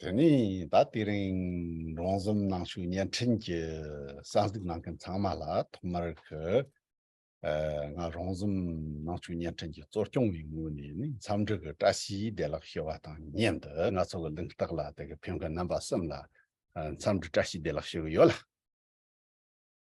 དོན་ནི་ད་ལྟའི་རིང་རོང་ཟོམ་ནང་བཞུགས་བརྙན་འཕྲིན་གྱི་གསར་འཛུགས་གནང་མཁན་ཚང་མ་ལ་ཐོག་མར་ང་རོང་ཟོམ་ནང་བཞུགས་བརྙན་འཕྲིན་གྱི་གཙོ་སྐྱོང་བའི་ངོས་ནས་ནི་འཚམས་འདྲི་གི་བཀྲ་ཤིས་བདེ་ལགས་ཞུ་བ་དང་མཉམ་དུ་ང་ཚོ་གི་གླེང་རྟགས་ལ་དེ་གི་ཕེབས་མཁན་རྣམ་པ་གསུམ་ལ་འཚམས་འདྲི་བཀྲ་ཤིས་བདེ་ལགས་ཞུ་གི་ཡོད་ལ།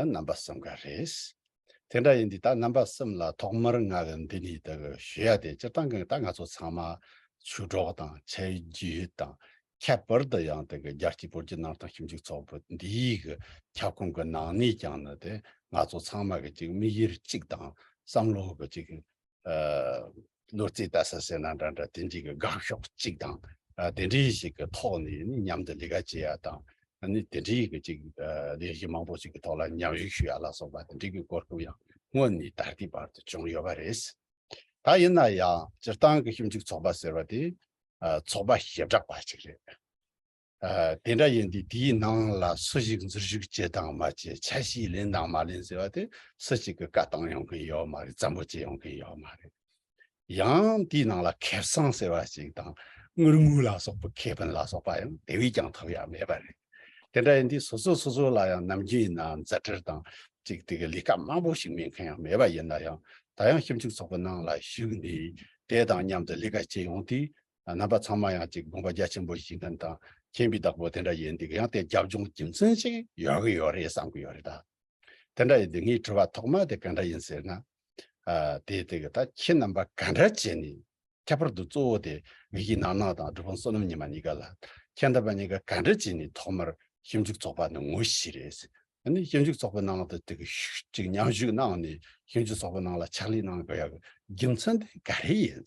རྣམ་པ་གསུམ་ག་རེད། དེ་འདྲ་ཡིན་དུས་ད་རྣམ་པ་གསུམ་ལ་ཐོག་མར་ང་གི་འདི་ནས་དག་ཞུ་ཡ་དེ་སྤྱིར་བཏང་གི་ད་ང་ཚོ་ཚང་མ་ཆུ་གྲོགས་དང་ཆ་རྒྱུས་དང་ཁྱད་པར་དུ་ཡང་དག་རྒྱ་སྐྱེད་པོ་རྒྱུ་ནང་དང་ཞིབ་འཇུག་ཚོགས་པ་འདིའི་གི་ཁྱབ་ཁོངས་གི་ནང་ནས་ཀྱང་ནི་དེ་ང་ཚོ་ཚང་མ་གི་ཅིག་དམིགས་ཡུལ་གཅིག་དང་བསམ་བློ་གི་ཅིག་ནོར་རྩིས་ལྟ་ས་ཟེར་ན་འདྲ་འདྲ་དེ་འདྲི་གི་དགག་ཕྱོགས་གཅིག་དང། དེ་འདྲི་ཞིག་གི་ཐོག་ནས་མཉམ་དུ་ལས་ཀ་བྱེད་ཡ་དང། དེ་འདྲི་གི་ཅིག་ལས་གཞི་མང་པོ་ཞིག་གི་ཐོག་ལ་མཉམ་ཞུགས་ཞུ་ཡ་ལ་སོགས་པ་དེ་འདྲི་གི་གོ་སྐབས་ཡང་སྔོན་ནས་ད་ལྟའི་བར་དུ་བྱུང་ཡོད་པ་རེད། ད་ཡིན་ན་ཡང་སྤྱིར་བཏང་གི་ཞིབ་འཇུག་ཚོགས་པ་ཟེར་བ་དེ་ཚོགས་པ་ཞེ་དྲག་པ་ཞིག་རེད། དེ་འདྲ་ཡིན་དུས་དེའི་ནང་ལ་སུ་ཞིག་འཛུལ་བཞུགས་བྱེད་དང་མ་བྱེད་ཆ་ཤས་ལེན་དང་མ་ལེན་ཟེར་བ་དེ་སུ་ཞིག་གི་བཀའ་བཏང་ཡོང་གིན་ཡོད་མ་རེད་བཙན་པོ་བྱེད་ཡོང་གིན་ཡོད་མ་རེད། ཡང་དེའི་ནང་ལ་ཁེ་བཟང་ཟེར་བ་ཞིག་དང་དངུལ་དངུལ་ལ་སོགས་པའི་ཁེ་ཕན་ལ་སོགས་པ་ཡང་དེ་བས་ཀྱང་ཐོབ་ཡག་མེད་པ་རེད། དེ་འདྲ་ཡིན་དུས་སོ་སོ་སོ་སོ་ལ་ཡང་ནམ་རྒྱུན་ཡིན་ནའང་མཛད་འཕྲིར་དང་ཅིག་དེ་གི་ལས་ཀ་དམའ་པོ་ཞིག་མེད་མཁན་ཡང་མེད་པ་ཡིན་ན་ཡང་ད་ཡང་ཞིབ་འཇུག་ཚོགས་པའི་ནང་ལ་བཞུགས་ནས་དེ་དང་མཉམ་དུ་ལས་ཀ་བྱེད་ཡོང་དུས་རྣམ་པ་ཚང་མ་ཡང་ཅིག་དགོངས་པ་རྒྱ་ཆེན་པོ་ཞིག་དོན་དང་མཁྱེན་པའི་བདག་པོ་དེ་འདྲ་ཡོད་འདུག་ཡང་དེ་རྒྱབ་ལྗོངས་རྒྱུ་མཚན་ཞིག་ཡོད་ཀྱི་ཡོད་རེད་བསམ་གྱི་ཡོད་རེད་ད། དེ་འདྲ་ཡོད་དུས་ངའི་དྲི་བ་ཐོག་མ་དེ་གང་འདྲ་ཡིན་ཟེར་ན། དེ་དེ་གི་ད་ཁྱེད་རྣམ་པ་ག་འདྲ་བྱས་ནས་ཁྱད་པར་དུ་གཙོ་བོ་དེ་ངེད་ཀྱི་ནང་ནང་དང་སྒྲུབ་དཔོན་བསོད་ནམས་ཉི་མ་གཉིས་ཀ་ལ་ཁྱེད་རྣམ་པ་གཉིས་ཀ་ག་འདྲ་བྱས་ནས་ཐོག་མར་ཞིབ་འཇུག་ཚོགས་པ་ནི་ངོ་ཤེས་རེད། ཞིབ་འཇུག་ཚོགས་པའི་ནང་དུ་དེ་གི་མཉམ་ཞུགས་གནང་ནས་ཞིབ་འཇུག་ཚོགས་པའི་ནང་ལ་ཕྱག་ལས་གནང་དགོས་ཡག་གི་རྒྱུ་མཚན་དེ་ག་རེ་ཡིན།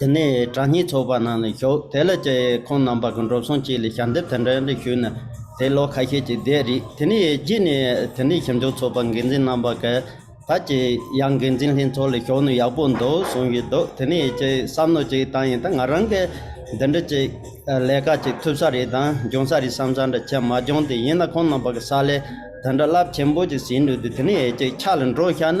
དེ་ནས་གྲྭ་གཉིས་ཚོགས་པ་ནང་ལ་ཞོག་དེ་ལ་ཅེ་ཁོང་རྣམ་པ་གང་འགྲོ་སོང་ཅིག་ལ་ཞལ་འདེབས་དེ་འདྲ་འདྲ་ཞུས་ན་དེ་ལོ་ཁ་ཤས་ཀྱི་བསྡད་རིགས་དེ་ནས་རྗེས་ནས་དེ་འདྲའི་ཞིབ་འཇུག་ཚོགས་པ་འགན་འཛིན་རྣམ་པ་ག་ད་ཅི་ཡང་འགན་འཛིན་ལྷན་ཚོགས་ལ་ཞོག་ནི་ཡག་པོ་འདུག་གསུངས་ཀྱི་འདུག་དེ་ནས་ཅེ་བསམ་ནོ་ཅིག་བཏང་ཡིན་ད་ང་རང་གི་འདི་འདྲ་ཅིག་ལས་ཀ་ཅིག་ཐུབ་ས་རེད་དང་འབྱུང་ས་རེད་བསམ་བསམ་འདྲ་ཆེ་མ་བྱུང་དེ་ཡིན་ན་ཁོང་རྣམ་པ་ག་ས་ལས་དེ་འདྲ་རླབས་ཆེན་པོ་ཅིག་ཟིན་འདུག་དེ་ནས་ཅིག་ཆགས་ལ་འགྲོ་ཤག་ན།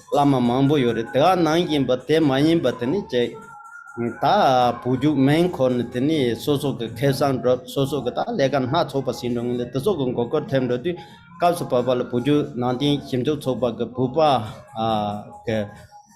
བླ་མ་མང་པོ་ཡོད་རེད་དེ་ག་ནང་གི་འབའ་དེ་མ་ཡིན་པ་དེ་ནི་བཅས། ད་བུ་རྒྱུག་མེན་ཁོ་ནི་དེ་ནི་སོ་སོ་གི་ཁེ་བཟང་སྒྲུབ་སོ་སོ་གི་ད་ལས་ཀ་སྣ་ཚོགས་པ་ཟིན་འགྲོ་ངེས་ལས་དེ་ཚོ་གི་མགོ་སྐོར་ཐེབས་འགྲོ་དུས་སྐབས་སུ་བབ་པ་ལ་བུ་རྒྱུག་ནང་བསྟན་ཞིབ་འཇུག་ཚོགས་པ་གི་བུ་པ་གི་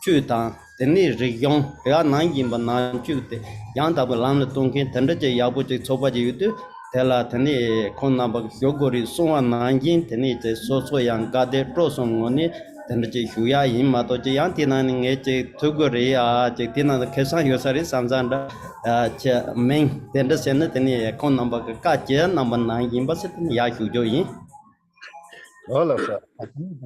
བཅུད་དང་དེ་ནི་རིག་གཞུང་དེ་ག་ནང་གི་འབའ་ནང་བཅུག་དེ་ཡང་དག་པའི་ལམ་ལ་གཏོང་མཁན་དེ་འདྲ་ཅིག་ཡག་པོ་ཅིག་ཚོགས་པ་ཅིག་ཡོད་དུས་དེ་ལ་དེ་ནི་ཁོང་རྣམ་པ་གི་ཞོགས་གོ་རིགས་གསུང་བ་ནང་བཞིན་དེ་ནི་བཅས་སོ་སོ་ཡང་དགའ་བདེ་སྤྲོ་གསུམ་ངོ་ནི། དེ་འདྲ་ཅིག་ཞུ་ཡ་ཡིན་མ་གཏོགས་ཅི་ཡང་དེ་ནང་ནས་ངས་ཅིག་ཐུག་གི་རེད་ཨ་ཅིག་དེ་ནང་དུ་ཁེ་བཟང་ཡོད་ས་རེད་བསམ་བསམ་འདྲ་ཅི་མིན་དེ་འདྲ་བྱས་ན་དེ་ནི་ཁོང་རྣམ་པ་གི་བཀའ་སྤྱི་རྣམ་པ་ནང་ཡིན་པ་སི་ཏི་ནི་ཡག་ཞུ་རྒྱུ་ཡིན། ལོ་ལ་ས་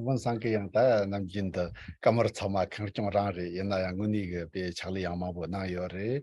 བོན་སངས་ཀི་ཡང་ད་ནམ་རྒྱུན་དུ་བཀའ་མོར་ཚང་མ་ཁེང་སྐྱོང་རང་རེད་ཡིན་ན་ཡང་དངོས་གནས་གི་དཔེ་ཕྱག་ལས་ཡང་མང་པོ་གནང་ཡོད་རེད་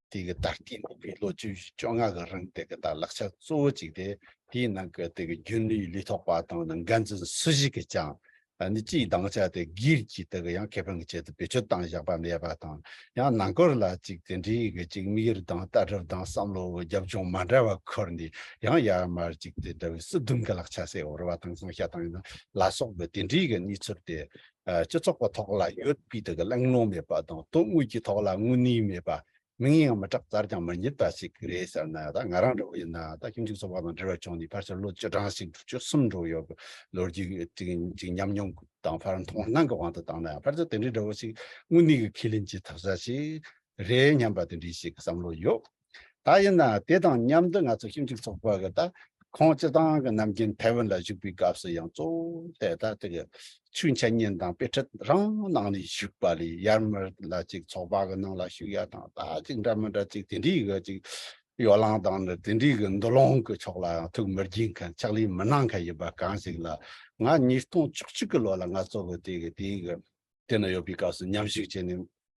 དེ་གི་ལྟར་དེའི་ནང་གི་ལོ་བཅུ་བཞི་བཅོ་ལྔ་གི་རིང་དེ་གི་ལྟར་ལག་ཆ་གཙོ་བོ་གཅིག་དེ་དེའི་ནང་གི་དེ་གི་རྒྱུན་ལུས་ལུས་ཐོགས་པ་དང་ནང་འགན་འཛིན་སུ་ཞིག་གིས་ཀྱང་ནི་སྤྱིའི་སྡང་ཆ་དེ་སྒེར་གྱི་དེ་གི་ཡང་ཁེ་ཕན་གི་ཆེད་དུ་བེད་སྤྱོད་བཏང་བཞག་པ་མེད་པ་དང་ཡང་ནང་སྐོར་ལ་གཅིག་དེ་འདྲའི་གི་གཅིག་མིག་ཡོར་དང་ལྟ་གྲུབ་དང་བསམ་བློ་གི་རྒྱབ་ལྗོངས་མ་འདྲ་བ་འཁོར་ནས་ཡང་ཡར་མར་གཅིག་དེ་འདྲ་བའི་སྲིད་དུམ་གི་ལག་ཆ་སེ་འོར་བ་དང་ཟང་ཤ་དང་ལ་སོགས་པའི་དེ་འདྲའི་གི་གནས་ཚུལ་དེ་སྤྱི་ཚོགས་ཀྱི་ཐོག་ལ་ཡོད་པའི་དག་གླེང་སློང་མེད་པ་དང་དོན་དངོས་ཀྱི་ཐོག་ལ་དངོས་གནས་མེད་པ། མིང་ཡང་མི་གྲགས་རྩར་ཀྱང་མི་རྙེད་པ་ཞིག་རེད་ཟེར་ན་ད་ང་རང་འདྲ་བོ་ཡིན་ན་ད་ཁྱིམ་གཅིག་ཚོགས་པ་དང་འབྲེལ་བ་བྱུང་ནས་ཕར་ཆེར་ལོ་བཅུ་གྲངས་ཤིག་དྲུག་ཅུ་གསུམ་འགྲོ་ཡོད་པའི་ལོ་རྒྱུས་ཅིག་ཉམས་མྱོང་དང་ཕར་མཐོང་སྣང་གི་དབང་དུ་བཏང་ན་ཡང་ཕར་ཆེར་དེ་འདྲའི་འདྲ་བོ་ཞིག་དངོས་གནས་ཀྱི་ཁས་ལེན་བྱེད་ཐུབ་ས་ཞིག་རེད་སྙམ་པ་དེ་འདྲའི་ཞིག་གི་བསམ་བློ་ཡོད། ད་ཡིན་ན་དེ་དང་མཉམ་དུ་ང་ཚོ་ཞིབ་འཇུག་ཚོགས་པ་གི་ད་ཁོང་སྤྱི་བཏང་གི་ནམ་རྒྱུན་ཐའེ་ཝན་ལ་བཞུགས་པའི་སྐབས་སུ་ཡང་གཙོ་བོ་ད་ལྟ་གི་ཆོས་འཆད་ཉན་དང་དཔེ་ཁྲིད་རང་གནང་ནས་བཞུགས་པ་ལས་ཡར་མར་ལ་ཅིག་ཚོགས་པ་གི་ནང་ལ་ཞུགས་ཡ་དང་ད་ཅིག་འདྲ་མི་འདྲ་ཅིག་དེ་འདྲའི་གི་ཅིག་ཡོ་ལང་དང་ནི་དེ་འདྲའི་གི་འདུ་ལོང་གི་ཕྱོགས་ལ་ཡང་ཐུགས་མི་དགྱེས་མཁན་ཕྱག་ལས་མི་གནང་མཁན་ཡིན་པ་གང་ཞིག་ལ་ང་ཉིས་སྟོང་བཅུ་གཅིག་གི་ལོ་ལ་ང་གཙོ་བོ་དེ་གི་དེའི་གི་དེ་ན་ཡོད་པའི་སྐབས་སུ་མཉམ་བཞུགས་བྱས་ནས།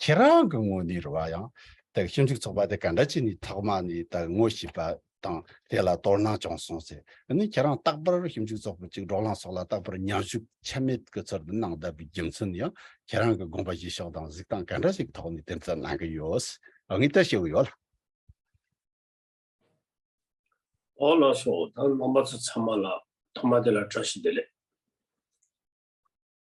ཁྱེད་རང་གི་ངོ་ནས་རེ་བ་ཡང་དག་ཞིབ་འཇུག་ཚོགས་པ་དེ་ག་འདྲ་བྱས་ནས་ཐོག་མ་ནས་དང་ངོ་ཤེས་པ་དང་དེ་ལ་དོར་སྣང་བྱུང་སོང་ཟེར་ནས་ཁྱེད་རང་རྟག་པར་ཞིབ་འཇུག་ཚོགས་པ་གཅིག་འབྲོག་གླང་སོགས་ལ་རྟག་པར་མཉམ་ཞུགས་ཆ་མེད་ཀྱི་ཚུལ་དུ་གནང་བསྡད་པའི་རྒྱུ་མཚན་ནི་ཡང་ཁྱེད་རང་གི་དགོངས་པ་བཞེས་ཕྱོགས་དང་གཟིགས་སྟངས་ག་འདྲ་ཞིག་གི་ཐོག་ནས་དེ་ཙམ་གནང་གི་ཡོད་ངེས་དེ་ཤེས་ཡོད། འོ་ལགས་སོ་ད་རྣམ་པ་ཚོ་ཚང་མ་ལ་ཐོག་མ་དེ་ལ་བཀྲ་ཤིས་བདེ་ལེགས།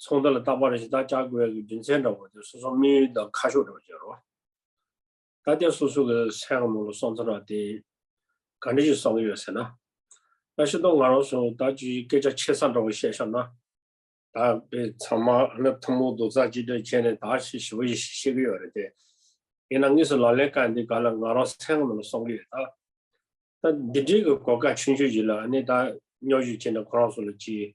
ཚོང་རྡལ་ལ་རྟག་པར་གཞི་བདག་བཅའ་བགོས་ཀྱི་རྒྱུ་མཚན་འདྲ་བོ་དེ་སོ་སོ་དམིགས་ཡུལ་དང་ཁ་ཕྱོགས་འདྲ་བོ་བརྗོད་རོགས། ད་ལྟའི་སོ་སོ་གི་སེམས་ངོ་ལ་སོང་ཚར་བ་དེ་ག་འདྲ་ཞིག་བསམ་གྱི་ཡོད་ཟེར་ན། ད་ཤི་ཏོ་ང་རང་སུ་ད་ཅི་ཞིག་སྐད་ཆ་ཆེ་ས་འདྲ་བོ་བཤད་ཤོར་ན། ད་དཔེ་ཚང་མ་ནི་ཐུན་མོང་རྡོག་རྩ་གཅིག་སྒྲིལ་བྱས་ནས་ད་ཤི་ཞི་བ་ཞིག་བཤད་གི་ཡོད་རེད་དེ། ཡིན་ན་དངོས་སུ་ལག་ལེན་བཀལ་འདི་ག་ལ་ང་རང་སེམས་ངོ་ལ་སོང་གི་ཡོད་ད། ད་འདི་འདྲིའི་གི་གོ་སྐབས་ཆུང་ཆུང་ཞིག་ལ་ནི་ད་སྨྱོ་ཞིག་བྱས་ནས་ཁོ་རང་སུ་ལ་ཅི།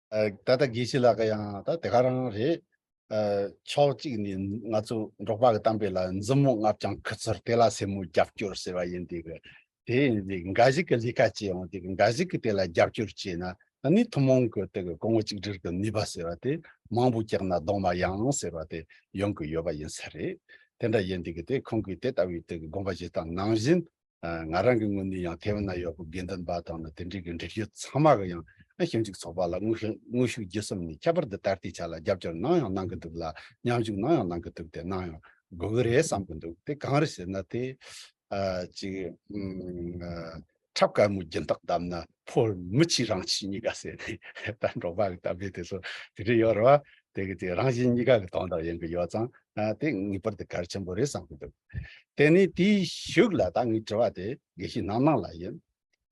ད་ལྟ་དགེ་བཤེས་ལགས་ཡང་ད་དེ་ག་རང་རེད། ཕྱོགས་གཅིག་ནས་ང་ཚོ་འབྲོག་པ་གི་གཏམ་དཔེ་ལ་འཛུམ་མོ་ལྔ་བརྐྱང་ཁུ་ཚུར་དེ་ལ་སེན་མོ་རྒྱབ་སྐྱོར་ཟེར་བ་ཡིན་དེ་གི། དེ་ཡིན་དེ་གི་འགའ་ཞིག་གི་ལས་ཀ་བྱས་ཡོང་དེ་གི་འགའ་ཞིག་གི་དེ་ལ་རྒྱབ་སྐྱོར་བྱས་ན་ད་ནི་ཐུན་མོང་གི་དེ་གི་གོང་བུ་གཅིག་སྒྲིལ་གི་ནུས་པ་ཟེར་བ་དེ་མང་པོ་བཀྱགས་ན་གདོང་མ་ཡངས་ཟེར་བ་དེ་ཡོང་གི་ཡོད་པ་ཡིན་ས་རེད། དེ་འདྲ་ཡིན་དེ་གི་དེ་ཁོང་གི་དེ་ལྟ་བུའི་དེ་གི་དགོངས་པ་བཞེས་སྟངས་ནང་བཞིན་ང་རང་གི་ངོས་ནས་ཡང་ཐའེ་ཝན་ན་ཡོད་པའི་དགེ་འདུན་པ་དང་ནི་དེ་འབྲེལ་གྱི་འགྲུལ་བཞུད་ཚང་མ་གི་ཡང་ན་ཞིབ་འཇུག་ཚོགས་པ་ལ་དངོས་ཤུགས་བརྒྱུད་གསུམ་ནས་ཁྱད་པར་དུ་ད་ལྟའི་ཆ་ལ་རྒྱབ་སྐྱོར་གནང་ཡང་གནང་གི་འདུག་ལ་མཉམ་ཞུགས་གནང་ཡང་གནང་གི་འདུག་དེ་གནང་ཡང་དགོས་ཀྱི་རེད་བསམ་གྱི་འདུག་དེ་གང་རེད་ཟེར་ན་དེ། ཅིག། འཁྲབ་དཀར་མོ་སྦྱིན་བདག་བདམས་ན་ཕོ་མི་གཅིག་རང་གཅིག་གཉིས་ཀ་ཟེར་ནས་ད་འབྲོག་པ་གི་གཏམ་དཔེ་དེ་ཚོ་དེ་འདྲས་ཡོད་རེད་བ། དེ་གི་རང་བཞིན་གཉིས་ཀ་གི་དོན་དག་ཡིན་གི་ཡོད་ཙང་དེ་ངེས་པར་དུ་གལ་ཆེན་པོ་རེད་བསམ་གི་འདུག་དེ་ནས་དེའི་ཤུགས་ལ་ད་ངའི་དྲི་བ་དེ་དགེ་བཤེས་ནམ་ནང་ལ་ཡིན་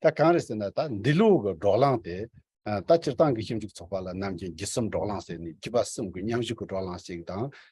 ད་གང་རེད་ཟེར་ན་ད་འདི་ལོ་གི་འབྲོག་གླང་དེ་ད་སྤྱིར་བཏང་གི་ཞིབ་འཇུག་ཚོགས་པ་ལ་ནམ་རྒྱུན་བརྒྱུད་གསུམ་འབྲོག་གླང་ཟེར་ནས་བརྒྱུད་པ་གསུམ་གི་མཉམ་བཞུགས་ཀི་འབྲོག་གླང་ཞིག་དང་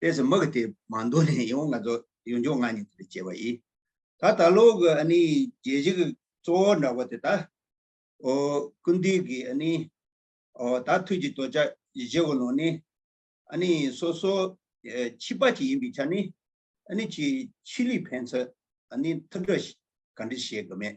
དེ་སུ་མི་གི་དེ་མ་འདོད་ནས་ཡོང་ང་ཚོ་ཡོང་ཆོག་ང་ཉིད་དེ་བྱས་པ་ཡིན། ད་ད་ལོ་གི་ཨ་ནི་རྒྱལ་སྤྱི་གི་གཙོ་བོ་འདྲ་བ་དེ་ད་ཨོ་ཀུན་དུས་གི་ཨ་ནི་ཨོ་ད་དུས་ཀྱི་དོ་ཅག་བཞི་བོ་ལོ་ནི་ཨ་ནི་སོ་སོ་ཕྱི་པ་ཅིག་ཡིན་པའི་ཆ་ནི་ཨ་ནི་ཆི་ཆི་ལི་ཕན་ཚུ་ཨ་ནི་ཐུགས་འདྲ་ག་འདྲི་བྱེད་གི་མེད།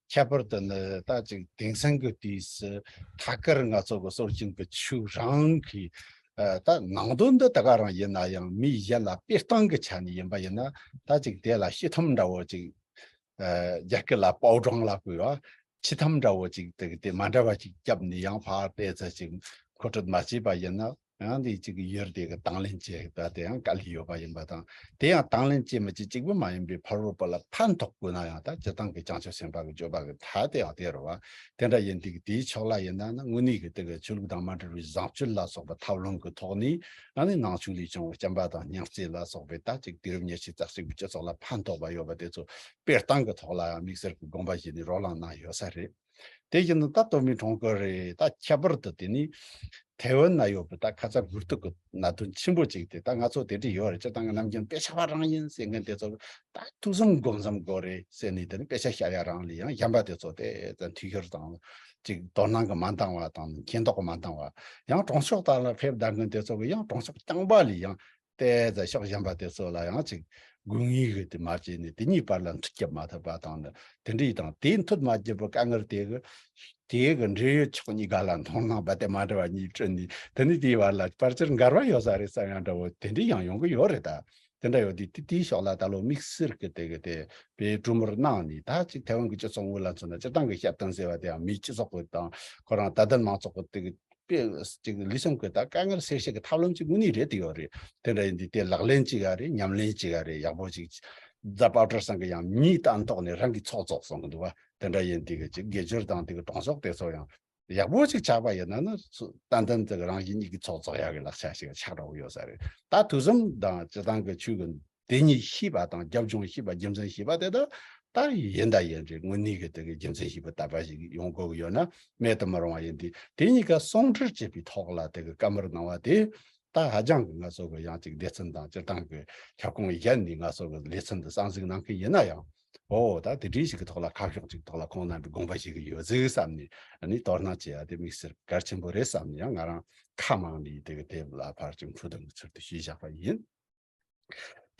ཁྱད་པར་དུ་ནི་ད་ཅིག་དེང་སང་གི་དུས་སུ་ཐད་ཀར་ང་ཚོ་གི་སོར་བྱུང་གི་ཆོས་རང་གི་ད་ནང་དོན་འདི་དག་རང་ཡིན་ན་ཡང་མི་གཞན་ལ་སྤེལ་སྟངས་ཀྱི་ཆ་ནས་ཡིན་པ་ཡིན་ན་ད་ཅིག་དེ་ལ་ཤི་འཐམ་འདྲ་བོ་ཅིག་རྒྱ་སྐད་ལ་པའོ་ཀྲང་ལ་གོ་བ་ཆི་འཐམ་འདྲ་བོ་ཅིག་དེ་མ་འདྲ་བ་ཅིག་བརྒྱབ་ནས་ཡང་ཕར་སྤེལ་ཚར་ཅིག་མཁོ་སྤྲོད་མ་བྱས་པ་ཡིན་ན་ཡང་དེ་གཅིག་གི་ཡུལ་དེ་གི་དང་ལེན་བྱེད་པ་དེ་ཡང་དཀའ་ལས་ཡོད་པ་ཡིན་པ་དང་དེ་ཡང་དང་ལེན་བྱེད་མི་བྱེད་གཅིག་པུ་མ་ཡིན་པའི་ཕ་རོལ་པོ་ལ་ཕན་ཐོགས་དགོས་ན་ཡང་དག་སྤྱི་བཏང་གི་བྱང་ཆུབ་སེམས་དཔའ་གི་སྤྱོད་པ་གི་མཐའ་དེ་ཡང་དེ་རུ་བ་དེ་འདྲ་ཡིན་དུས་དེའི་ཕྱོགས་ལ་ཡིན་ན་ནི་དངོས་གནས་ཀྱི་དེ་གི་ཆོས་ལུགས་དང་མ་འབྲེལ་བའི་བཟང་སྤྱོད་ལ་སོགས་པ་ཐབས་ལམ་གི་ཐོག་ནས་ཡང་ནི་ནང་ཆོས་ལས་བྱུང་བའི་སྐྱེམས་པ་དང་སྙིང་བརྩེ་ལ་སོགས་པའི་དག་ཅིག་དུས་རབས་ཉེར་གཅིག་རྩ་གཅིག་པའི་སྤྱི་ཚོགས་ལ་ཕན་ཐོགས་པ་ཡོད་པ་དེ་ཚོ་སྤེལ་སྟངས་གི་ཐོག་ལ་ཡང་དམིགས་བསལ་གི་དགོངས་པ་བཞེས་ནས་རོ་ལངས་གནང་ཡོད་ས་རེད། དེ་བཞིན་དུ་ད་སྟོད་མི་གྲོང་ཁུལ་རེད་ད་ཁྱད་པར་དུ་དེ་ནི་ཐའེ་ཝན་ན་ཡོད་པའི་ད་ཁ་ཚ་གུར་དུག་གི་ན་དོན་ཆེན་པོ་ཅིག་དེ་ད་ང་ཚོ་དེ་འདྲས་ཡོད་རེད་སྤྱིར་བཏང་གི་ནམ་རྒྱུན་དཔེ་ཆ་བ་རང་ཡིན་ཟེར་མཁན་དེ་ཚོ་ད་ཐུགས་བསམ་སྒོམ་བསམ་དགོས་རེད་ཟེར་ནས་དེ་ནི་དཔེ་ཆ་ཤ་ཡ་རང་ལས་ཡང་གཞན་པ་དེ་ཚོ་དེ་ཙམ་འཐུས་ཤོར་དང་ཅིག་དོ་སྣང་གི་མ་འདང་བ་དང་མཁྱེན་རྟོགས་མ་འདང་བ་ཡང་གྲོང་ཤོག་དག་ལ་ཕེབས་གདའ་མཁན་དེ་ཚོ་གི་ཡང་གྲོང་ཤོག་རྐྱང་པ་ལས་ཡང་ཏའི་རྫ་ཤག་བཞེངས་པ་དེ་ཚོ་ལ་ཡང་ཅིག་དགོས་ངེས་ཀྱི་དེ་མ་བྱས་ནས་དེ་གཉིས་བར་ལ་འཁྲུལ་བསྐྱབས་མ་ཐུབ་པ་དང་ནི་དེ་འདྲའི་དང་དེའི་མཐུད་མ་བགྱིས་པར་དཀའ་ངལ་དེ་གི་དེ་གི་འབྲེལ་ཡོད་ཕྱོགས་གཉིས་ག་ལ་མཐོང་སྣང་རྦད་དེ་མ་འདྲ་བ་གཉིས་སྤྲོད་ནས་དེ་ནི་དེའི་བར་ལ་པར་ཆེར་འགལ་བ་ཡོད་ས་རེད་བསམ་ཡང་འདྲ་བོ་དེ་འདྲའི་ཡང་ཡོང་གི་ཡོད་རེད་ད། དེ་འདྲ་ཡོད་དུས་དེ་དེའི་ཕྱོགས་ལ་ད་ལོ་དམིགས་བསལ་གྱི་དེ་གི་དེ་བས་གྲུ་མོར་གནང་ནས་ད་ཅིག་ཐའེ་ཝན་གྱི་སྤྱི་ཚོགས་དངོས་ལ་མཚོན་ན་སྤྱིར་བཏང་གི་བཤད་སྟངས་ཟེར་བ་དེའང་མིའི་སྤྱི་ཚོགས་གི་དང་ཁོ་རང་དད་ལྡན་མང་ཚོགས་ཀྱི་དེ་གི་པའི་ལུས་སེམས་གོས་དག་དཀའ་ངལ་སེལ་བྱེད་ཀྱི་ཐབས་ལམ་གཅིག་དངོས་གནས་རེད་དེ་ཡོད་རེད་དེ་འདྲ་ཡིན་དུས་དེ་ལག་ལེན་གཅིག་རེད་ཉམས་ལེན་གཅིག་རེད་ཡག་པོ་ཅིག་རྫ་པཱ་ཀྲར་སང་གི་ཡང་མྱི་རྟ་འདོགས་ནས་རང་གི་ཚོགས་རྫོགས་སོང་གི་འདུག་བ་དེ་འདྲ་ཡིན་དུས་ཀྱི་དགེ་སྦྱོར་དང་དེ་གི་གྲོང་ཆོག་དེ་ཚོ་ཡང་ཡག་པོ་ཅིག་ཆགས་པ་ཡིན་ན་ནི་རྟ་འདམ་དེ་གི་རང་གི་མྱི་གི་ཚོགས་རྫོགས་ཡག་གི་ལག་ཆ་ཞིག་ཆགས་འགྲོ་གི་ཡོད་ས་རེད་ད་དུས་གསུམ་དང་སྤྱི་བཏང་གི་ཆོས་གི་དེ་གཉིས་ཤེས་པ་དང་རྒྱབ་ལྗོངས་ཤེས་པ་རྒྱུ་མཚན་ཤེས་པ་དེ་དག་ལྟར་ཡིན་དང་ཡིན་རེད་དངོས་གནས་ཀྱི་དེ་གའི་རྒྱུ་མཚན་ཤེས་པ་ལྟ་བ་ཞིག་ཡོང་དགོས་ཀྱི་ཡོད་ན་མེད་དུ་མི་རུང་བ་ཡིན་དུས་དེ་གཉིས་ཀ་ཟུང་འབྲེལ་བྱས་པའི་ཐོག་ལ་དེ་གའི་བཀའ་མོལ་གནང་བ་དེ་དག་ཧ་ཅང་གི་ངལ་གསོ་གི་ཡང་ཅིག་སྡེ་ཚན་དང་སྤྱིར་བཏང་གི་ཁྱབ་ཁོངས་གཞན་ནས་ངལ་གསོ་གི་ལེ་ཚན་དུ་གསང་གཟིགས་གནང་མཁན་ཡིན་ན་ཡང་ཨོ་ད་དེ་འདྲའི་ཞིག་གི་ཐོག་ལ་ཁ་ཕྱོགས་ཅིག་ཐོག་ལ་ཁོང་རྣམ་པའི་དགོངས་པ་ཞིག་ཡོད་ཚུལ་བསམ་ནས་ནི་དོ་སྣང་བྱེད་ཡ་དེ་དམིགས་བསལ་གལ་ཆེན་པོ་རེད་བསམ་ནས་ཡང་ང་རང་ཁ་མང་ནས་དེ་གའི་དེབ་ལ་ཕར་ཅིག་འཕྲོ་བཏང་གི་ཚུལ་དུ་ཞུས་བཞག་པ་ཡིན།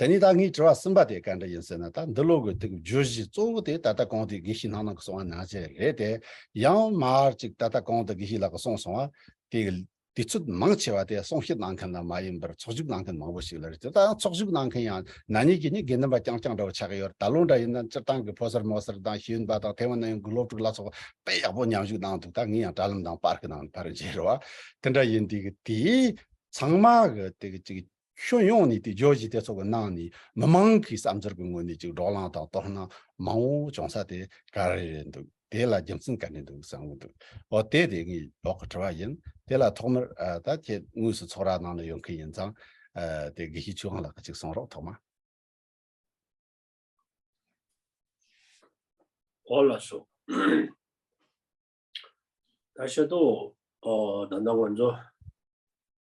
དེ་ནས་ད་ངས་དྲི་བ་གསུམ་པ་དེ་ག་འདྲ་ཡིན་ཟེར་ན་ད་འདི་ལོ་དགུ་ཐུག་བརྗོད་གཞི་གཙོ་བོ་དེ་ད་ལྟ་གང་དེའི་དགེ་བཤེས་སྣང་ནང་གི་སོང་བ་ནང་བཞིན་རེད་དེ། ཡང་མར་ཅིག་ད་ལྟ་གང་དུ་དགེ་བཤེས་ལགས་ཀྱི་སོང་སོང་བ་དེ། དུས་ཚོད་མང་ཆེ་བ་དེ་གསུང་བཤད་གནང་མཁན་ལ་མ་ཡིན་པར་ཚོགས་བཞུགས་གནང་མཁན་མང་བོ་ཞིག་ལ་རེད་དེ་ད་ཡང་ཚོགས་བཞུགས་གནང་མཁན་ཡང་ན་ཉིད་ཀྱིས་ནི་དགེ་འདུན་པ་རྐྱང་རྐྱང་འདྲ་བོ་ཆགས་ཀྱི་ཡོད་རེད་ད་ལོ་འདྲ་ཡིན་ན་སྤྱིར་བཏང་གི་ཕོ་སར་མོ་སར་དང་ཤེས་ཡོན་པ་དང་ཐའེ་ཝན་ན་ཡོང་གི་སློབ་ཕྲུག་ལ་སོགས་དཔེ་ཡག་པོ་མཉམ་ཞུགས་གནང་འདུག་ད་ངས་ཡང་དྲ་ལམ་དང་པར་ཁུ་ནང་བར་བརྗེ་རུ་བ་དེ་འདྲ་ཡིན་དུས་ཀྱི་དེའི་ཚང་མ་གི་དེ་གི་ཅིག་ཕྱོགས་ཡོངས་ནས་དེ་ཇོ་ཇི་དེ་ཚོ་གི་ནང་ནས་མི་མང་གི་བསམ་ཚུལ་གི་ངོས་ནས་ཅིག་འགྲོགས་ལངས་དང་དོར་སྣང་མང་བོ་བྱུང་ས་དེ་ག་རེ་རེད་འདུག་དེ་ལ་རྒྱུ་མཚན་ག་ནས་འདུག་བསམ་གི་འདུག་འོ་དེ་དེ་ངའི་འོག་གི་དྲི་བ་ཡིན་དེ་ལ་ཐོག་མར་ད་ཁྱེད་དངོས་སུ་ཚོགས་ར་ནང་ལ་ཡོད་མཁན་ཡིན་ཙང་དེ་དགེ་བཤེས་ཆོས་དབང་ལགས་ཀྱི་ཅིག་གསུངས་རོགས་ཐོག་མ། འོ་ལགས་སོ། ད་ཤ་ཏོ། ད་ནང་ང་ཚོ།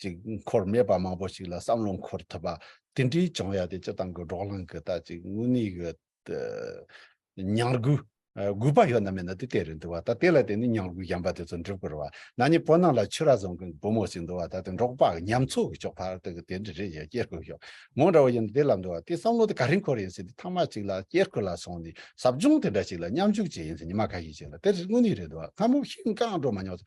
ཅིག་འཁོར་མེད་པ་མང་པོ་ཞིག་ལ་བསམ་བློ་འཁོར་ཐུབ་པ་དེ་འདྲའི་བྱུང་ཡ་དེ་སྤྱི་བཏང་གི་འགྲོགས་ལངས་གི་ད་ཅིག་དངོས་གནས་གི་ཉར་དགོས་དགོས་པ་ཡོད་ན་མེད་ན་དེ་དེ་རེད་འདུག་བ་ད་དེ་ལ་བརྟེན་ནས་ཉར་དགོས་ཞན་པ་དེ་ཚོ་འགྲུབ་དགོས་རེད་བ་ན་ནི་བོད་ནང་ལ་ཆོས་ར་བཟང་གི་བུ་མོ་ཞིག་འདུག་བ་ད་དེ་འགྲོགས་པ་ཉམས་ཚོད་ཀྱི་ཆོག་ཕར་ཐུག་གི་དེ་འདྲ་རེད་ཡ་སྐྱེལ་དགོས་ཤོག་ངོ་འདྲ་བོ་ཡིན་ན་དེ་ལབ་འདུག་བ་དེ་བསམ་བློ་དེ་ག་རེ་འཁོར་ཡིན་ཟེར་དེ་ཐང་མ་ཅིག་ལ་སྐྱེལ་ཁུལ་ལ་སོང་ནས་ཟབ་སྦྱོང་དེ་འདྲ་ཞིག་ལ་མཉམ་ཞུགས་བྱས་ཡིན་ཟེར་ཉི་མ་ཁ་ཤས་ཤིག་ལ་དེ་དངོས་གནས་རེད་འདུག་བ་སྔ་མོ་ཤིང་རྐང་འགྲོ་མ་མྱོང་ཟེར་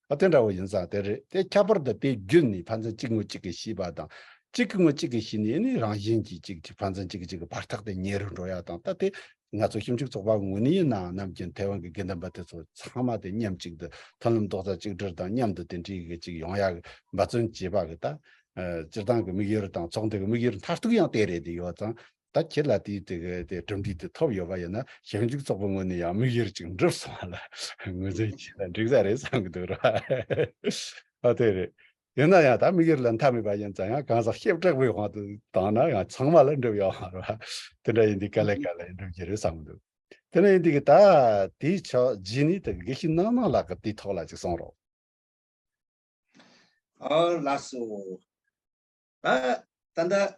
ཨ་དེ་འདྲ་བོ་ཡིན་ཙང་དེ་རེད་དེ་ཁྱད་པར་དུ་དེའི་རྒྱུད་ནི་ཕ་མཚན་གཅིག་ངོ་གཅིག་གི་ཤེས་པ་དང། གཅིག་གི་ངོ་གཅིག་གི་ཤེས་ནས་ནི་རང་བཞིན་གྱིས་གཅིག་གཅིག་ཕ་མཚན་གཅིག་གཅིག་གི་བར་ཐག་དེ་ཉེ་རུ་འགྲོ་ཡ་དང་ལྟ་སྟེ། ང་ཚོ་ཞིབ་འཇུག་ཚོགས་པ་ངོས་ནས་ཡིན་ནའང་ནམ་རྒྱུན་ཐའེ་ཝན་གྱི་དགེ་འདུན་པ་དེ་ཚོ་ཚང་མ་དེ་མཉམ་གཅིག་ཏུ་མཐུན་ལམ་རྡོག་རྩ་གཅིག་སྒྲིལ་དང་མཉམ་དུ་དེ་འདྲིའི་གཅིག་ཡོང་ཡ་གི་འབའ་བརྩོན་བྱེད་པ་གི་ད། སྤྱིར་བཏང་གི་དམིགས་ཡུལ་དང་ཚོགས་འདུ་གི་དམིགས་ཡུལ་མཐར་ཐུག་ཡང་དེ་རེད་དེ་ཡོད་ཙང། ད་ཁྱེད་ལ་དེའི་གྲུབ་འབྲས་དེ་ཐོབ་ཡོད་པ་ཡིན་ན་ཞིབ་འཇུག་ཚོགས་པའི་ངོས་ནས་ཡང་དམིགས་ཡུལ་ཅིག་འགྲུབ་སོང་བ་ལ་ངོས་འཛིན་བྱས་ན་འགྲིག་ས་རེད་བསམ་གྱི་འདུག་ར་བ། ཨ་དེ་རེད། ཡིན་ན་ཡང་ད་དམིགས་ཡུལ་ལ་མཐའ་མེད་པ་ཡིན་ཙང་ཡང་གང་ཟག་ཤེས་དྲག་པོའི་དབང་དུ་བཏང་ན་ཡང་ཚང་མ་ལ་འགྲུབ་ཡོང་བ་ར་བ། དེ་འདྲ་ཡིན་དུས་ག་ལེ་ག་ལེ་འགྲུབ་ཀྱི་རེད་བསམ་གྱི་འདུག་དེ་འདྲ་ཡིན་དུས་ད་དེའི་ཕྱོགས་རྗེས་ནས་ད་དགེ་བཤེས་སྣང་སྣང་ལགས་ཀྱི་དེའི་ཐོག་ལ་ཅིག་གསུངས་རོགས། ཨ་ལགས་སོ། ད་ད་ལྟ་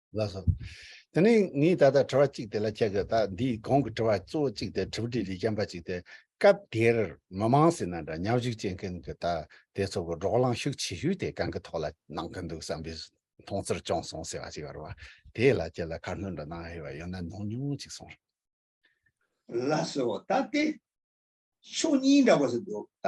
ལགས་སོ། དེ་ནས་ངས་ད་ལྟ་དྲི་བ་གཅིག་དེ་ལ་བྱ་དགོས་ད་འདི་གོང་གི་དྲི་བ་གཙོ་བོ་གཅིག་དེ་དྲི་བ་དྲིས་ལས་རྐྱང་པ་གཅིག་དེ་སྐབས་དེར་མི་དམངས་སེ་ན་འདྲ་མཉམ་བཞུགས་བྱེད་མཁན་གྱི་ད་དེ་ཚོ་གི་འགྲོགས་ལངས་ཤུགས་ཆེ་ཤོས་དེ་གང་གི་ཐོག་ལ་གནང་གི་འདུག་བསམ་པའི་མཐོང་ཚུལ་བྱུང་སོང་ཟེར་བ་ཅིག་བར་བ་དེ་ལ་ཁྱེད་ལ་ཁ་སྣོན་འདྲ་གནང་ཧེ་བ་ཡོད་ན་གནང་ཉོང་ཅིག་གསུངས་རོགས། ལགས་སོ་ད་དེ་ཕྱོགས་གཉིས་འདྲ་བ་ཞིག་འདུག་ད་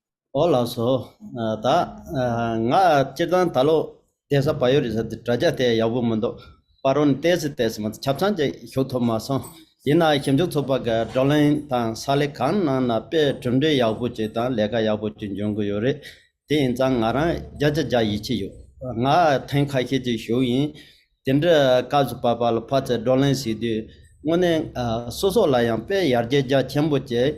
ཨོ་ལགས་སོ། ད་ང་སྤྱིར་བཏང་ད་ལོ་གདན་ས་བ་ཡོ་རི་ས་དེ་དྲ་རྒྱ་དེ་ཡག་པོ་མི་འདུག་པར་རོ་ནི་བལྟས་སི་བལྟས་སི་མ་ཆབ་ཚང་ཅིག་ཞུགས་ཐུབ་མ་སོང། ཡིན་ན་ཞིབ་འཇུག་ཚོགས་པ་གི་བགྲོ་གླེང་དང་ས་ལེ་གང་གནང་ན་དཔེ་གྲུབ་འབྲས་ཡག་པོ་ཅིག་དང་ལས་ཀ་ཡག་པོ་ཅིག་འབྱུང་གི་ཡོད་རེད། དེ་ཡིན་ཙང་ང་རང་རྒྱ་ཆ་རྒྱག་ཡིད་ཆེས་ཡོད། ང་ཐེངས་ཁ་ཤས་ཅིག་ཞུགས་ཡིན། དེ་འདྲའི་སྐབས་སུ་བར་བར་ལ་ཕ་ཚེ་བགྲོ་གླེང་ཞིག་དུས་དངོས་གནས་སོ་སོ་ལ་ཡང་དཔེ་ཡར་རྒྱས་རྒྱ་ཆེན་པོ་ཅིག་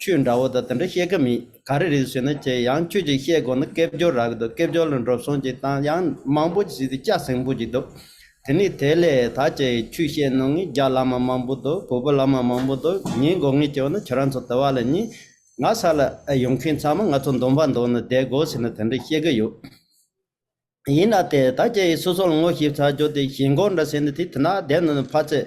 ཁྱོད་འདྲ་བོ་དང་དེ་འདྲ་བཤད་གི་མེད་ག་རེ་རེད་ཟེར་ན་ཁྱེད་ཡང་ཁྱོད་ཀྱིས་བཤད་དགོས་ན་སྐད་བསྒྱུར་རག་གི་འདུག་སྐད་བསྒྱུར་ལ་འགྲོ་སོང་གྱི་སྟངས་ཡང་མང་པོ་ཞིག་བྱས་ཏེ་སྐྱག་ཟིང་པོ་ཞིག་འདུག་དེ་ནས་དེ་ལས་ད་ཁྱེད་ཆོས་བཤད་གནང་ངེས་རྒྱ་བླ་མ་མང་པོ་འདུག་བོད་པ་བླ་མ་མང་པོ་འདུག་ངས་དགོས་ངེས་བྱས་ན་ཁྱེད་རང་ཚོ་དེ་བ་ལ་ཉིན་ང་ས་ལ་ཡོང་མཁན་ཚང་མ་ང་ཚོ་འདོམས་པ་འདོགས་ནས་བསྡད་དགོས་ཟེར་ནས་དེ་འདྲ་བཤད་གི་ཡོད། ཡིན་ན་དེ་ད་ཁྱེད་ཡིས་སོ་སོ་ལ་ངོ་ཤེས་ཚར་བྱོས་ཏེ་ཞེན་ཁོག་འདྲ་ཟེར་ནས་དེ་དེ་ན་བསྡད་ནས་ཕར་ཚད་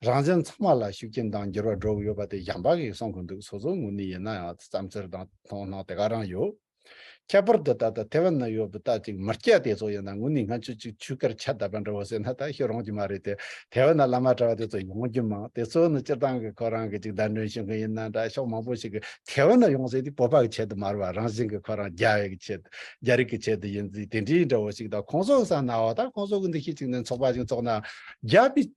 རང་བྱན་ཚང་མ་ལ་ཤུགས་རྐྱེན་དང་འགྱུར་བ་འགྲོ་གི་ཡོད་པ་དེ་གཞན་པ་གིས་གསུང་གི་འདུག་སོ་སོའི་ངོས་ནས་ཡིན་ན་ཡང་བསམ་ཚུལ་དང་མཐོང་སྣང་དེ་ག་རང་ཡོད། ཁྱད་པར་དུ་ད་ལྟ་ཐེ་ཝན་ན་ཡོད་པའི་རྟ་གཅིག་མིར་སྐྱ་དེ་ཚོ་ཡིན་ན་ངོས་ནས་ང་ཆུ་གཅིག་ཆུ་ཁར་ཆ་ད་པ་འདྲ་བོ་ཟེར་ན་ད་ཤི་རུང་གི་མ་རེད་དེ་ཐེ་ཝན་ན་བླ་མ་གྲྭ་བ་དེ་ཚོ་ཡོང་རྒྱུ་མང་དེ་ཚོ་ནི་སྤྱིར་བཏང་གི་ཁོ་རང་གི་གཅིག་བདག་མགྲོན་བྱེད་མཁན་ཡིན་ན་འདྲ་ཕྱོགས་མང་པོ་ཞིག་གིས་ཐེ་ཝན་ན་ཡོང་ཟེར་དུས་སྤོབས་པ་གི་ཆེད་དུ་མར་བ་རང་བཞིན་གྱི་ཁོ་རང་རྒྱ་བལ་གྱི་ཆེད་དུ་རྒྱ་རིགས་ཀྱི་ཆེད་དུ་ཡིན་ཚུལ་དེ་འདྲའི་འདྲ་བོ་ཞིག་དང་ཁོང་ཚོ་གསང་ན་འོ་ད་ཁོང་ཚོ་གི་འདི་ཤེས་ཅིག་ནས་ཚོགས་པ་ཞིག་འཚོགས་ན་རྒྱ་བི།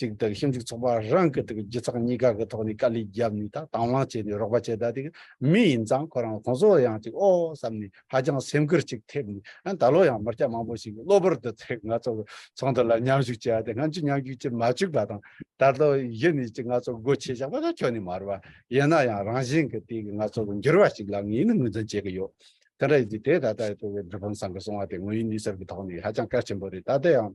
གཅིག་དག་ཞིབ་འཇུག་ཚོགས་པ་རང་གི་དག་སྒྱུ་རྩལ་གཉིས་ཀ་གི་ཐོག་ནས་དཀའ་ལས་བརྒྱབ་ནས་དག་དང་བླངས་བྱས་ནས་རོགས་པ་བྱས་ད་དེ་མི་ཡིན་ཙང་ཁོ་རང་གོང་བཟོ་བ་ཡང་ཅིག་ཨོ་བསམ་ནས་ཧ་ཅང་སེམས་ཁུར་ཅིག་ཐེབས་ནས་ཡང་ད་ལོ་ཡང་མི་སྐྱ་མང་པོ་ཞིག་གློ་བུར་དུ་ཚེ་ང་ཚོ་གི་ཚོགས་འདུ་ལ་མཉམ་ཞུགས་བྱས་ད་དེ་ང་ཚོས་མཉམ་ཞུགས་བྱེད་མ་བཅུག་པ་དང་ད་ལོ་གཞི་ནས་ཅིག་ང་ཚོ་སྒོ་ཕྱེས་བཞག་པ་ད་ཁྱོན་ནས་མ་རུ་བ་ཡིན་ན་ཡང་རང་བཞིན་གི་དེ་གི་ང་ཚོ་གི་འགྱུར་བ་ཞིག་ལ་ངས་ནི་ངོས་འཛིན་བྱེད་ཀྱི་ཡོད་དེ་འདྲ་ཡིན་དུས་དེ་ད་ལྟ་ཡོད་པའི་སྒྲུབ་ཕུང་ཚང་གི་སོང་བ་དེ་ངོས་ཡིན་ནུས་ཟབ་ཀྱི་ཐོག་ནས་ཧ་ཅང་གལ་ཆེན་པོ་རེད་ད་ལྟ་ཡང།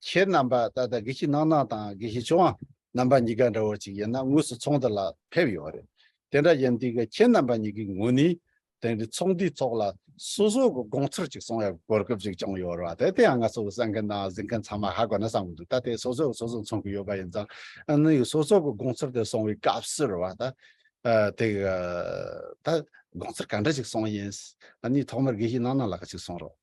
ཁྱེད་རྣམ་པ་ད་ལྟ་དགེ་བཤེས་སྣང་སྣང་དང་དགེ་བཤེས་ཆོས་དབང་རྣམ་པ་གཉིས་ཀ་འདྲ་བོ་ཅིག་ཡིན་ན་དངོས་སུ་ཚོགས་འདི་ལ་ཕེབས་ཡོད་རེད། དེ་འདྲ་ཡིན་དུས་ཁྱེད་རྣམ་པ་གཉིས་ཀའི་ངོས་ནས་དེང་གི་ཚོགས་འདུའི་ཐོག་ལ་སོ་སོ་གི་དགོངས་ཚུལ་ཅིག་གསུང་ཡག་པའི་གོ་སྐབས་ཅིག་བྱུང་ཡོད་རེད་བ་དེ་ཡང་ང་ཚོ་གསན་མཁན་དང་གཟིགས་མཁན་ཚང་མ་ཧ་གོ་ན་བསམ་གྱི་འདུག་ད་ལྟའི་སོ་སོས་སོ་སོ་མཚོན་གྱི་ཡོད་པ་ཡིན་ཙང་ནི་སོ་སོ་གི་དགོངས་ཚུལ་དེ་གསུང་བའི་སྐབས་སུ་རེད་བ་ད། དེ་ག་ད་དགོངས་ཚུལ་ག་འདྲ་ཞིག་གསུང་ཡིན་ནི་ཐོག་མར་དགེ་བཤེས་སྣང་སྣང་ལགས་ཀྱིས་གསུང་རོགས།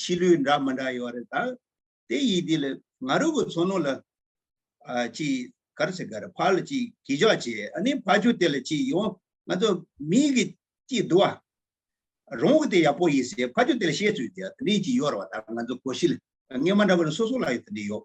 ཕྱི་ལུས་འདྲ་མི་འདྲ་ཡོད་རེད་ད། དེ་ཡིས་དེ་ལ་ང་རོ་གི་ཚོ་ནོ་ལ། ཅི་གར་སེ་གར་ཕ་ལ་ཅི་གི་ཇོ་ཇེ་ཨ་ནི་ཕ་ཆུ་དེ་ལ་ཅི་ཡོ་ང་ཚོ་མི་གི་ཅི་དུ་བ། རོང་གི་དེ་ཡག་པོ་ཡིས་སེ་ཕ་ཆུ་དེ་ལ་བཤད་ཚོད་ཇེ་ཨ་ནི་ཅི་ཡོར་བ་ད་ང་ཚོ་གོ་ཤི་ལ། ངས་མ་འདྲ་བ་ལ་སོ་སོ་ལ་ཡོད་དེ་འདྲ་ཡོད།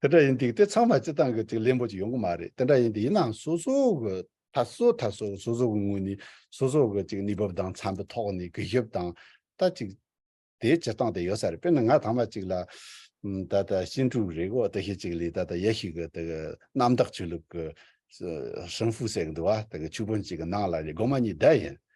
དེ་འདྲ་ཡིན་འདུག་དེ་ཚང་མ་སྤྱི་སྟངས་ཀྱི་ཅིག་ལེན་པོ་ཅིག་ཡོང་གི་མ་རེད་དེ་འདྲ་ཡིན་དུས་ཡིན་ནའང་སོ་སོ་གི་ད་སོ་ད་སོ་སོ་སོ་གི་ངོས་ནས་སོ་སོ་གི་ཅིག་གནས་བབ་དང་འཚམ་པའི་ཐོག་ནས་གུས་ཞབས་དང་ད་ཅིག་དེའི་སྤྱི་སྟངས་དེ་ཡོད་ས་རེད་དཔེར་ན་ང་ད་མ་ཅིག་ལ་ད་ད་ཤིན་ཀྲུའུ་རེ་གོ་ད་ཤེས་ཅིག་ལས་ད་ད་ཡ་ཤིག་གི་ད་གི་གནམ་བདག་ཆོས་ལུགས་ཀྱི་ཧྲིན་ཧྥུའུ་ཟེར་གི་འདུག་བ་ད་གི་ཆུ་དཔོན་ཅིག་གི་ནང་ལ་རེ་སྒོ་མ་གཉིས་བསྡད་ཡིན།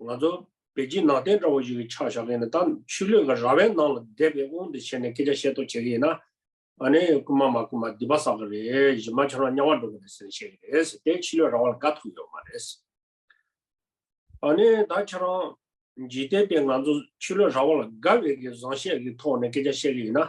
ང་ཚོ་བོད་བརྒྱུད་ནང་བསྟན་འདྲ་བོ་ཞིག་གི་ཆ་བཞག་མཁན་ནི་ད་ཕྱི་ལོས་ཀྱི་ར་བའི་ནང་ལ་བསྡད་པའི་དབང་དུ་བྱས་ནས་སྐད་ཆ་བཤད་ཐོག་བྱེད་ཀྱི་ཡིན་ན་ཨ་ནི་རྐུན་མ་མ་རྐུན་མ་འདི་པ་ཟ་གི་རེད་གཞི་མ་ཁྱོད་རང་དམྱལ་བར་འགྲོ་གི་རེད་ཟེར་ནས་བཤད་ཀྱི་རེད་ཟེར་དེ་ཕྱི་ལོས་ར་བ་ལ་དགའ་ཐུབ་ཡོད་མ་རེད། ཨ་ནི་ད་ཁྱེད་རང་ཇི་ལྟའི་དེ་ང་ཚོ་ཕྱི་ལོས་ར་བ་ལ་དགའ་བའི་གི་བཟང་བཤད་གི་ཐོག་ནས་སྐད་ཆ་བཤད་ཀྱི་ཡིན་ན་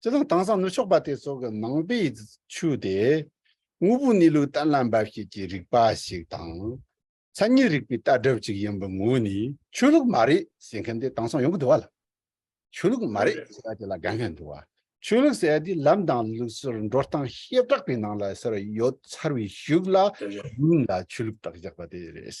སྤྱི་ལོ་དང་སང་ནུབ་ཕྱོགས་པ་དེ་ཚོ་གི་ནང་པའི་ཆུ་དེ་དངོས་པོའི་གནས་ལུགས་གཏན་ལ་འབབ་བྱེད་ཀྱི་རིག་པ་ཞིག་དང། མཚན་ཉིད་རིག་པའི་ལྟ་གྲུབ་ཅིག་ཡིན་པའི་ངོས་ནས་ཆོས་ལུགས་མ་རེད་ཟེར་མཁན་དེ་དེང་སང་ཡོང་གི་འདུག་བ་ལ། ཆོས་ལུགས་མ་རེད་ཟེར་བ་དེ་ལ་དགའ་མཁན་འདུག་བ། ཆོས་ལུགས་ཟེར་བ་དེ་ལམ་དང་ལུགས་སྲོལ་འགྲོ་སྟངས་ཤེས་བྲག་པའི་ནང་ལ་ཟེར་བ་ཡོད་ཚར་བའི་ཤུགས་ལ་ཡིན་ལ་ཆོས་ལུགས་དག་བཞག་པ་དེ་རེད།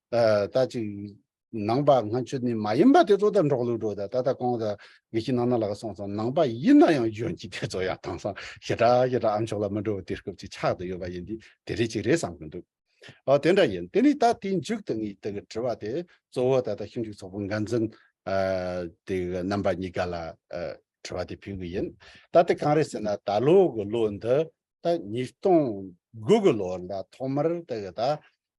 ད་ཅིག་ནང་པ་ང་ཁྱོད་ནི་མ་ཡིན་པ་དེ་ཚོ་དང་འགྲོགས་ལུགས་འགྲོ་ད་ད་ད་གོང་ད་ངེད་ཀྱི་ནང་ན་ལ་ག་སོང་སོང་ནང་པ་ཡིན་ན་ཡང་གཞོན་སྐྱེས་དེ་ཚོ་ཡང་དྭངས་སང་ཞེ་དྲག་ཞེ་དྲག་ཨ་མཆོག་ལ་མི་འགྲོ་དེ་སྐབས་ཅིག་ཆགས་དུ་ཡོད་པ་ཡིན་དུས་དེ་རེད་ཅིག་རེད་བསམ་གྱི་འདུག་ཨོ་དེ་འདྲ་ཡིན་དེ་ནི་ད་དེའི་མཇུག་ཏུ་ངས་དེ་ག་དྲི་བ་དེ་གཙོ་བོ་ད་ལྟ་ཞིབ་འཇུག་ཚོགས་པ་འགན་འཛིན་དེ་ག་རྣམ་པ་གཉིས་ཀ་ལ་དྲི་བ་དེ་ཕུལ་གྱི་ཡིན་ད་དེ་གང་རེད་ཟེར་ན་ད་ལོ་གི་ལོ་འདི་ད་ཉིས་སྟོང་དགུ་གི་ལོ་ལ་ཐོག་མར་དེ་ག་ད་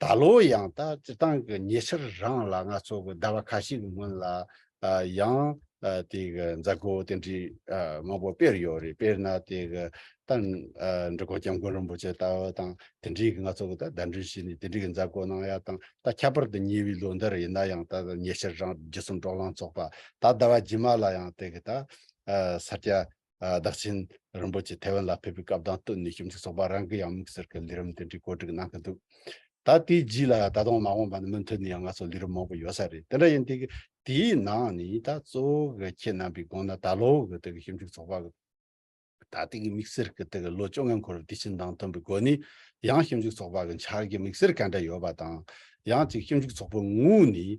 ད་ལོ་ཡང་ད་སྤྱི་བཏང་གི་ཉེ་ཆར་རང་ལ་ང་ཚོ་གི་ཟླ་བ་ཁ་ཤས་ཀྱི་སྔོན་ལ་ཡང་དེ་གི་མཛད་སྒོ་དེ་འདྲའི་མང་པོ་སྤེལ་ཡོད་རེད་དཔེར་ན་དེ་གི་ད་འབྲི་གོ་སྐྱབས་མགོན་རིན་པོ་ཆེ་ལྟ་བུ་དང་དེ་འདྲའི་གི་ང་ཚོ་གི་ད་ཟླ་འདྲུད་བྱས་ནས་དེ་འདྲའི་གི་མཛད་སྒོ་གནང་ཡག་དང་ད་ཁྱད་པར་དུ་ཉེ་བའི་ལོ་འདིར་ཡིན་ན་ཡང་ད་ཉེ་ཆར་རང་བརྒྱུད་གསུམ་གྲོགས་ལང་ཚོགས་པ་ད་ཟླ་བ་རྗེས་མ་ལ་ཡང་དེ་གི་ད་ས་སྐྱ་བདག་ཆེན་རིན་པོ་ཆེ་ཐའེ་ཝན་ལ་ཕེབས་པའི་སྐབས་དང་བསྟུན་ནས་ཞིབ་འཇུག་ཚོགས་པ་རང་གི་ཡང་དམིགས་བསལ་གྱི་ལས་རིམ་དེ་འདྲའི་བཀོད་སྒྲིག་གནང་གི་འདུག་ད་དེའི་རྗེས་ལ་ད་དུང་མ་འོངས་པ་ནི་མུ་མཐུད་ནས་ཡང་ང་ཚོར་ལས་རིམ་མང་པོ་ཡོད་ས་རེད་དེ་འདྲ་ཡིན་དུས་དེའི་ནང་ནས་ད་གཙོ་བོ་གི་ཁྱེད་རྣམ་པའི་དགོངས་ན་ད་ལོ་གི་དེ་གི་ཞིབ་འཇུག་ཚོགས་པ་གི་ད་ལྟའི་གི་དམིགས་བསལ་གྱི་དེ་གི་ལོ་བཅོ་ལྔའི་འཁོར་བའི་དུས་ཆེན་དང་བསྟུན་པའི་སྒོ་ནས་ཡང་ཞིབ་འཇུག་ཚོགས་པ་གི་འཆར་གི་དམིགས་བསལ་ག་འདྲ་ཡོད་པ་དང། ཡང་གཅིག་ཞིབ་འཇུག་ཚོགས་པའི་ངོས་ནས་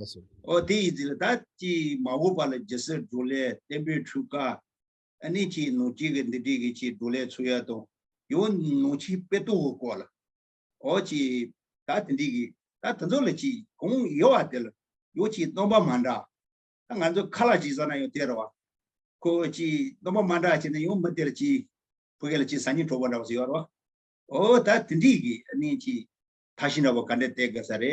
ཨོ་སི། ཨོ་དེ་ཡི་ཛི་ལ་ད་ཅི་མ་འོ་པ་ལ་ཇི་སི་འགྲོ་ལས་བརྟན་པོའི་འཕྲུལ་ཀ་ཨ་ནི་ཅི་ནོ་ཅི་གི་འདི་དྲི་གི་ཅི་འགྲོ་ལས་ཚུ་ཡ་དོ་ཡོ་ནོ་ཅི་པེ་ཏོ་ཧོ་ཀོ་ལ་ཨོ་ཅི་ད་དེ་འདྲི་གི་ད་དེ་ཚོ་ལ་ཅི་གོང་ཡོ་བ་དེ་ལ་ཡོ་ཅི་སྟོང་པ་མ་འདྲ་ད་ང་ཚོ་ཁ་ལ་ཅི་ཟ་ན་ཡོ་དེ་ར་བ་ཁོ་ཨོ་ཅི་སྟོང་པ་མ་འདྲ་ཅི་ན་ཡོ་མི་དེ་ལ་ཅི་བུ་གེ་ལ་ཅི་ཟ་ཉི་གྲོ་བ་འདྲ་བ་ཟི་ཡོ་ར་བ་ཨོ་ད་དེ་འདྲི་གི་ཨ་ནི་ཅི་ད་ཤི་འདྲ་བ་ག་འདྲ་དེ་ག་ས་རེ་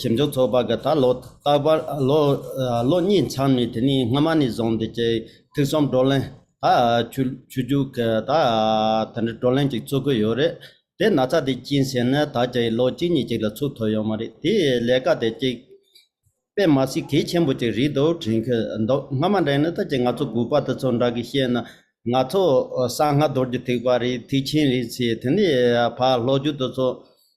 ཞིབ་འཇུག་ཚོགས་པ་འགའ་ད་ལོ་རྟག་པར་ལོ་གཉིས་མཚམས་ནས་དེ་ནས་སྔོན་མ་ནས་བཟུང་སྟེ་ཀྱི་ཐིག་གསུམ་བགྲོ་གླེང་ཆུ་རྒྱུག་དེ་འདྲའི་བགྲོ་གླེང་ཅིག་ཚུགས་ཀྱི་ཡོད་རེད་དེ་ན་ཚ་དེ་སྐྱིན་ཟེར་ན་ད་ཀྱི་ལོ་གཅིག་གཉིས་ཅིག་ལ་ཚུགས་ཐུབ་ཡོད་མ་རེད་དེ་ལས་ཀ་དེ་ཅིག་དཔེ་མ་སྲིད་གལ་ཆེན་པོ་ཅིག་རེད་འདུག་དྲན་གྱི་འདུག་སྔ་མ་འདྲེན་ནི་ད་ཀྱི་ང་ཚོ་སྒུག་པ་དེ་ཚོ་འདྲ་གི་བཤད་ན་ང་ཚོ་གསང་སྔ་རྡོར་གྱི་ཐིག་པ་རེད་ཐིག་ཆེན་རེད་ཚེ་དེ་ནས་ཕར་ལྷོ་རྒྱུད་དེ་ཚོ་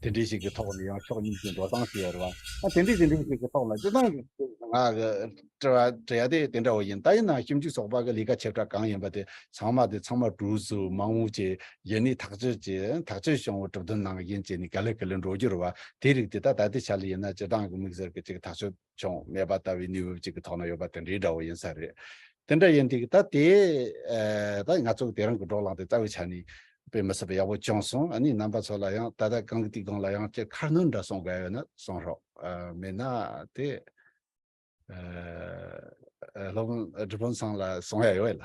དེ་འདྲི་ཞིག་གི་ཐོག་ནས་ཡང་ཕྱོགས་གཉིས་ཀྱི་འགྲོ་སྟངས་ཞུ་ཡ་རུང་བ་དེ་འདྲི་དེ་འདྲི་ཞིག་གི་ཐོག་ལ་སྤྱི་བཏང་གི་དྲི་བ་དྲི་ཡ་དེ་དེ་འདྲ་བོ་ཡིན་ད་ཡིན་ནའང་ཞིབ་འཇུག་ཚོགས་པ་གི་ལས་ཀ་བྱེད་སྒྲ་གང་ཡིན་པ་དེ་ཚང་མ་དེ་ཚང་མ་གྲུ་ཟུར་མང་བོ་ཆེ་ཡེ་ནས་ཐག་གཅོད་ཀྱིས་ཐག་གཅོད་བྱུང་བའི་གྲུབ་དོན་ནང་ཡིན་བྱས་ནས་ག་ལེ་ག་ལེ་འགྲོ་རྒྱུ་རུ་བ་དེའི་རིགས་དེ་ད་ད་ལྟའི་ཆ་ལ་ཡིན་ན་སྤྱི་བཏང་གི་དམིགས་བསལ་གྱི་ཅིག་ཐག་གཅོད། ཅུང་སྨད་པ་ལྟ་བུའི་གནས་བབ་ཅིག་གི་ཐོག་ན་ཡོད་པ་དེ་འདྲའི་འདྲ་བོ་ཡིན་ས་རེད། དེ་འདྲ་ཡིན་དུས་ད་དེ་ད་ང་ཚོ་དེ་རང་གི་སྒྲོག་ལངས་དེ་རྩ་བའི་ཆ་ནས་དཔེ་མི་སྲིད་པ་ཡག་པོ་བྱུང་སོང་ཨ་ནི་རྣམ་པ་ཚོ་ལ་ཡང་ད་ལྟ་གང་གི་དུས་གང་ལ་ཡང་སྤྱིར་ཁ་སྣོན་འདྲ་གསུངས་དགའ་ཡོད་ན་གསུངས་རོགས། མེད་ན་དེ་སློབ་དཔོན་སྒྲུབ་དཔོན་ཚང་ལ་གསུངས་ཡ་ཡོད་ལ།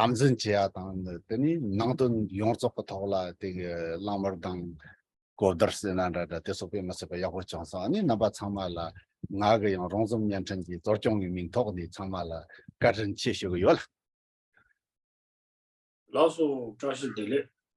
དམ་འཛིན་བྱེད་ཡག་དང་དེ་ནས་ནང་དོན་ཡོངས་རྫོགས་ཀྱི་ཐོག་ལ་དེ་གི་གླང་མར་དང། གོ་བརྡར་སེ་ན་འདྲ་འདྲ་དེ་སོགས་པས་མི་ཚད་པ་ཡག་པོ་བྱུང་སོང་ཨ་ནི་རྣམ་པ་ཚང་མ་ལ་ང་གི་ཡང་རོང་ཟོམ་བརྙན་འཕྲིན་གྱི་གཙོ་སྐྱོང་གི་མིང་ཐོག་ནས་ཚང་མ་ལ་བཀའ་དྲིན་ཆེ་ཞུ་གི་ཡོད། ལགས་སོ་བཀྲ་ཤིས་བདེ་ལེགས།